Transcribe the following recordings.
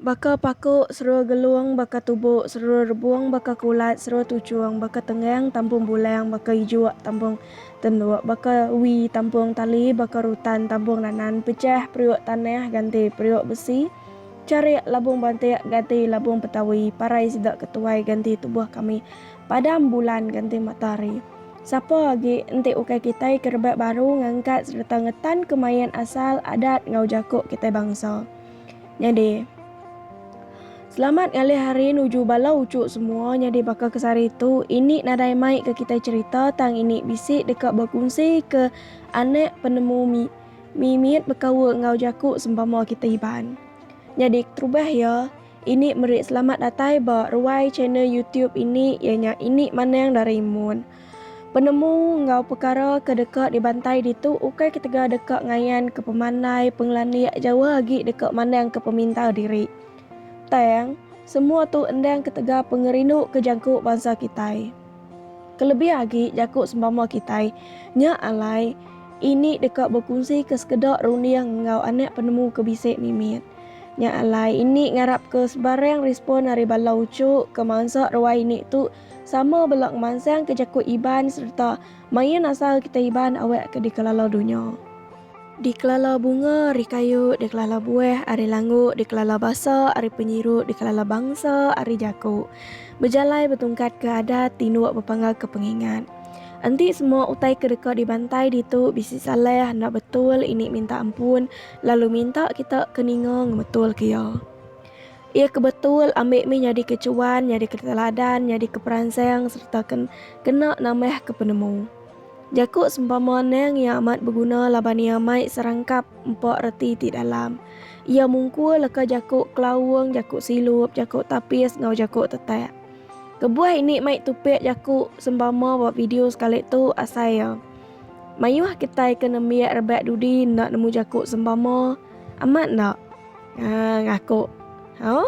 Baka paku, serua gelung, baka tubu, serua rebung, baka kulat, serua tuchung, baka tenggang, tampung bulang, baka ijuk, tampung tenduk, baka wi, tampung tali, baka rutan, tampung nanan, pechah, periuk tanah, ganti, periuk besi, charik, labung bantik, ganti, labung petawi, parai sida ke tuai, ganti, tubuh kami. padam bulan ganti matahari. Sapa agi enti ukai kitai ke rebak baru ngangkat sereta ngetan kemain asal adat enggau jaku kitai bangsa. Nyadi, selamat ngalih hari nuju bala uchu semua nyadi baka ke sehari tu ini nadai mai ke kitai cherita tang ini bisi deka bekunsi ke anak penemu mi mimit bekaul enggau jaku sempama kitai Iban. Nyadi keterubah iya. Ini meri selamat datai ba ruai channel YouTube ini iya nya Ini Manang Doraemon. Penemu enggau pekara ke deka dibantai ditu ukai ketegal deka ngayan ke pemandai pengelandik jauh agi deka mandang ke peminta diri. Tang, semua tu endang ketegal pengerindu ke jangku bansa kitai. Kelebih agi jaku sempama kitai nya alai ini deka bekunsika sekeda runding enggau anak penemu ke bisi mimit. Nya alai ini ngarapka sebarang respon ari bala uchu ke mansa ruai ini tu sama bela ngemansangka jaku Iban sereta main asal kitai Iban awakka dikelala dunya. Dikelala bunga ari kayu, dikelala buah ari langu, dikelala basa ari penyiru, dikelala bangsa ari jaku. Bejalai betungkat ke adat, tinduk bepangga ke pengingat. Enti semua utai ke deka dibantai ditu bisi salah enda betul ini minta ampun lalu minta kita ke ninga ngebetul ke iya. Iya ke betul ambi mih nyadi ke chuan, nyadi ke teladan, nyadi ke peransang sereta ke kena nambah ke penemu. Jaku sempama neng iya amat beguna laban iya mai serangkap empa reti ti dalam. Iya mungkur leka jaku kelaung, jaku silup, jaku tapis enggau jaku tetak. Kebuah ini mai tupik jaku sempama ba video sekali tu asai iya. Mayuh kitai ke nembiak rebak dudi enda nemu jaku sempama amat enda? Haa ngaku. Hau.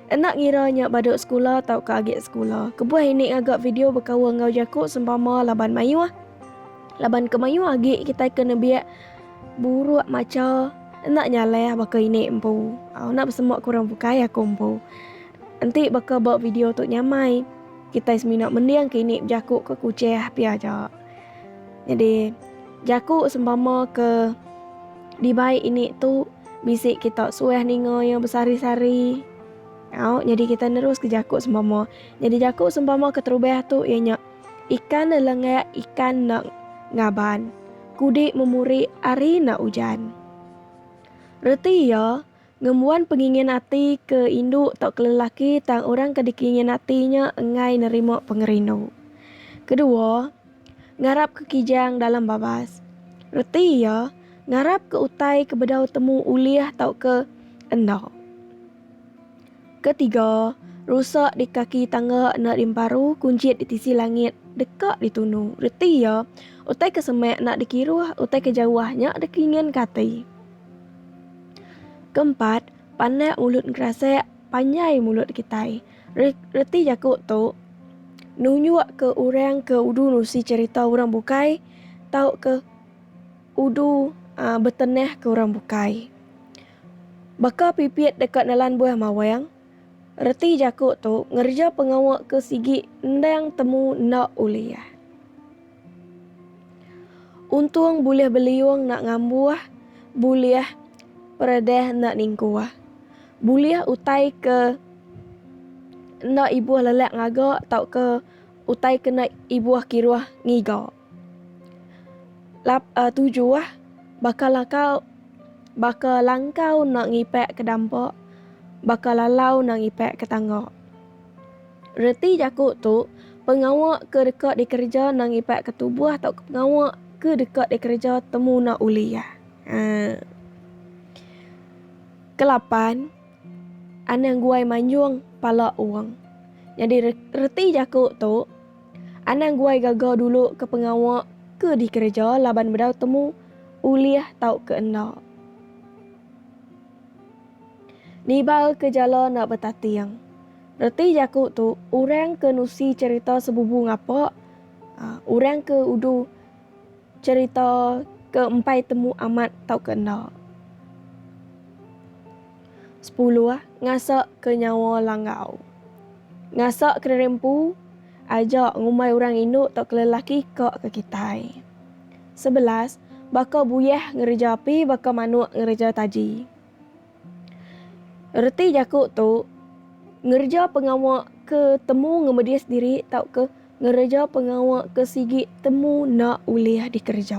Enda ngira nya badu sekula tauka agi sekula, kebuah ini ngaga video bekaul enggau jaku sempama laban mayuh laban ke mayuh agi kitai ke nembiak buruk macha enda nyalah baka ini empu. Au enda besemua ke orang bukai aku empu. Enti baka ba video tu nyamai, kitai semina mending ke ini bejaku ke kuchah pia aja. Nyadi, jaku sempama ke dibai ini tu bisi kita suah ninga iya besari-sari. Au, nyadi kita neruska jaku sempama. Nyadi jaku sempama keterubah tu iya nya, Ikan enda lenggak ikan enda ngaban, kudi memuri ari enda ujan. Reti iya. Ngembuan pengingin ati ke indu tauka lelaki tang orang ke dikingin ati nya enggai nerima pengerindu. Kedua, ngarapka kijang dalam babas. Reti iya, ngarapka utai ke bedau temu ulih tauka enda. Ketiga, rusa di kaki tangga enda diemparu, kunjit di tisi langit deka ditunu. Reti iya, utai ke semak enda dikiruh, utai ke jauh nya dikinginka ati. Keempat, pandak mulut ngerasek panjai mulut kitai. Reti jaku tu nunjuk ke orang ke udu nusi cherita orang bukai tauka udu betenah ke orang bukai. Baka pipit deka nelan buah mawang, reti jaku tu ngereja pengawa ke sigi endang temu enda ulih. Untung bulih beliung enda ngambuh, bulih peredeh enda ningkuh. Bulih utai ke enda ibuh lelak ngaga tauka utai ke enda ibuh kiruh ngiga. Lap uhh tujuh, baka lakau baka langkau enda ngipak ke dampa, baka lalau enda ngipak ke tangga. Reti jaku tu, pengawa ke deka dikereja endang ipat ke tubuh tauka pengawa ke deka dikereja temu enda ulih iya. Haa. Kelapan, anang guai manjung pala wong. Nyadi reti jaku tu, anang guai gaga dulu ke pengawa ke dikereja laban bedau temu ulih tauka enda. Nibal ke jala enda betating. Reti jaku tu orang ke nusi cherita sebubu ngapa orang ke udu cherita ke empai temu amat tauka enda. Sepuluh, ngasak ke nyawa langgau. Ngasak ke neri empu. Aja ngumbai orang indu tauka lelaki ka ke kitai. Sebelas, baka buyah ngereja api baka manuk ngereja taji. Reti jaku tu, ngereja pengawa ke temu ngemedis diri tauka ngereja pengawa ke sigi temu enda ulih dikereja.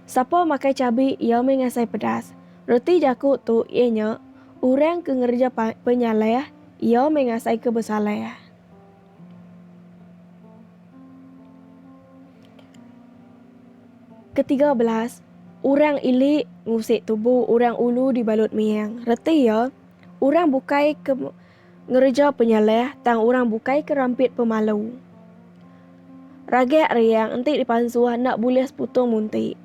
Sapa makai cabi iya meh ngasai pedas. Reti jaku tu iya nya, orang ke ngereja penyaleh Iya meh ngasai ke besaleh. Ketiga belas, Orang ili ngusik tubu orang ulu dibalut miang. Reti iya, orang bukai ke ngereja penyaleh tang orang bukai ke rampit pemalu. Ragak riang enti dipansuh enda bulih seputung munti.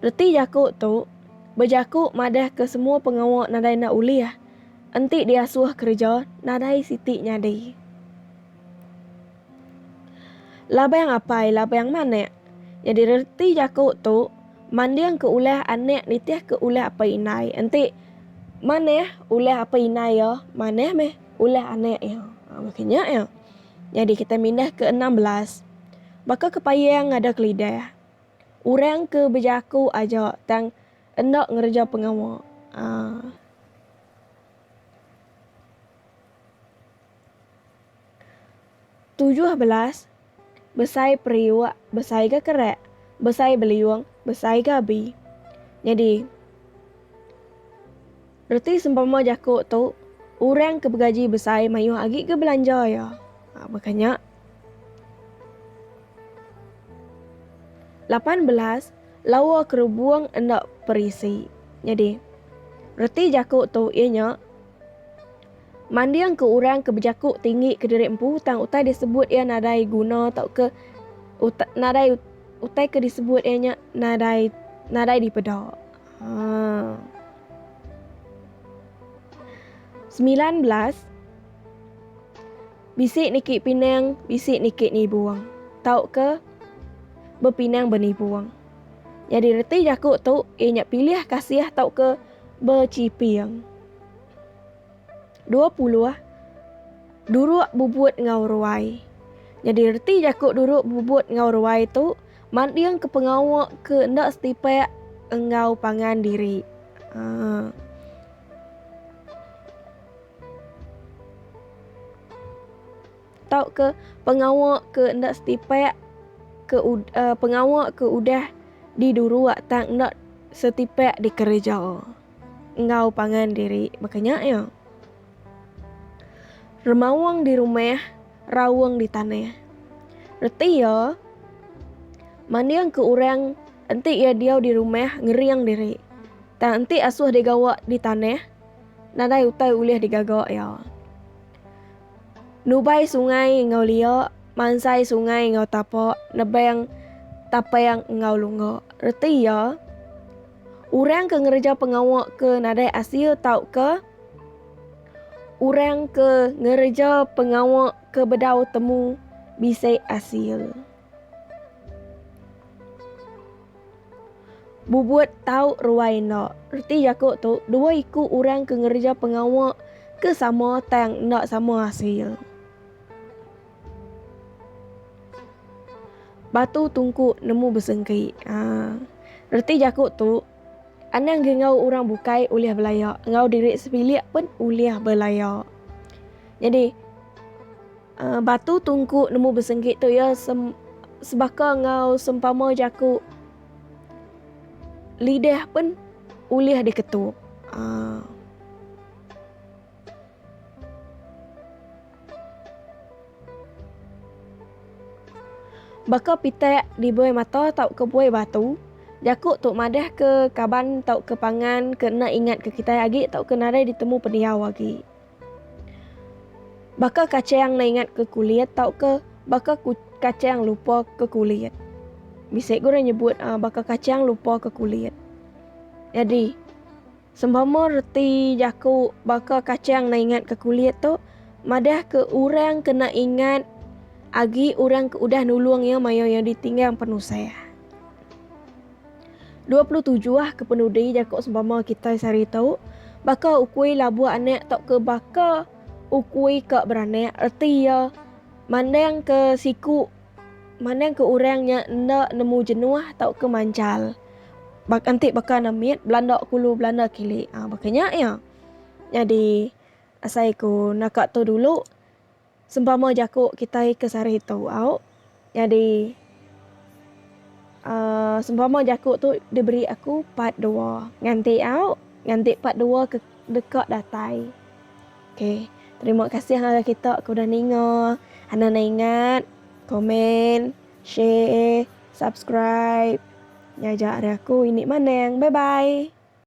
Reti jaku tu, bejaku madah ke semua pengawa nadai enda ulih. Enti diasuh kereja nadai siti nyadi. Labang apai labang manak. Nyadi reti jaku tu manding ke ulah anak nitih ke ulah apai indai enti manah ulah apai indai iya manah meh ulah anak iya ha baka nya iya. Nyadi kitai mindah ke enam belas baka kepayang ngada ke lidah urang ke bejaku aja tang Enda ngereja pengawa. Tujuh belas, besai periuk, besai ga kerak, besai beliung, besai ga abi. Nyadi. Reti sempama jaku tu, Orang ke begaji besai mayuh agi ke belanja iya. Baka nya. Lapan belas, Lawa kerubung enda perisi. Nyadi, reti jaku tu iya nya, Mandingka orang ke bejaku tinggi kediri empu tang utai disebut iya nadai guna tauka utai nadai utai ke disebut iya nya nadai nadai dipeda. Semilan belas Bisi niki pinang, bisi niki nibung. Tauka bepinang benibung. Nyadi reti jaku tu iya nya pilih kasih tauka bechiping. Dua puluh Duruk bubut enggau ruai. Nyadi reti jaku duruk bubut enggau ruai tu. Manding ke pengawa ke enda setipak enggau pangan diri. Uh. tau ke pengawa ke enda setipak ke uh, pengawa ke udah diduruk tang enda setipak dikereja enggau pangan diri bakanya ya. Remaung di rumah, raung di tanah. Reti iya, mandingka orang enti iya diau di rumah ngering diri, tang enti asuh digawa di tanah, nadai utai ulih digaga iya. Nubai sungai enggau lia, mansai sungai enggau tapa, nebang tapang enggau lungga. Reti iya. Orang ke ngereja pengawa ke nadai asil tauka orang ke ngereja pengawa ke bedau temu bisi asil. Bubut tau ruai enda. Reti jaku tu, dua iku orang ke ngereja pengawa ke sama tang enda sama asil. Batu tungku nemu besengki. Haa. Reti jaku tu, anang gi enggau orang bukai ulih belaya, enggau diri sepilik pun ulih belaya. Nyadi aaa batu tungku nemu besengki tu iya sem sebaka enggau sempama jaku lidah pun ulih diketup. Haa. Baka pitak di buai mata tauka buai batu, jaku tu madahka kaban tauka pangan ke enda ingatka kitai agi tauka nadai ditemu pendiau agi. Baka kachang enda ingatka kulit tauka baka kachang lupaka kulit. Bisi ga orang nyebut baka kachang lupaka kulit. Nyadi. Sempama reti jaku baka kachang naingat ke kulit tu madah ke urang kena ingat agi urang ke udah nulung iya mayau iya ditinggang penusah. Dua puluh tujuh kepenudi jaku sempama kitai sehari tu baka ukui labuh anak tauka baka ukui ka beranak reti iya mandang ke siku. Manang ke orang nya enda nemu jenuh tauka manchal. Baka enti baka ne mit belanda ke ulu belanda kili. Ha baka nya iya. Nyadi asai ku naka tu dulu sempama jaku kitai ke sehari tu au nyadi uhh sempama jaku tu diberi aku part dua nganti au nganti part dua ke deka datai. Ok terima kasih ngagai kita ke udah ninga. Anang ne ingat komen, share, subscribe. Ngajar aku ini manang. Bye bye.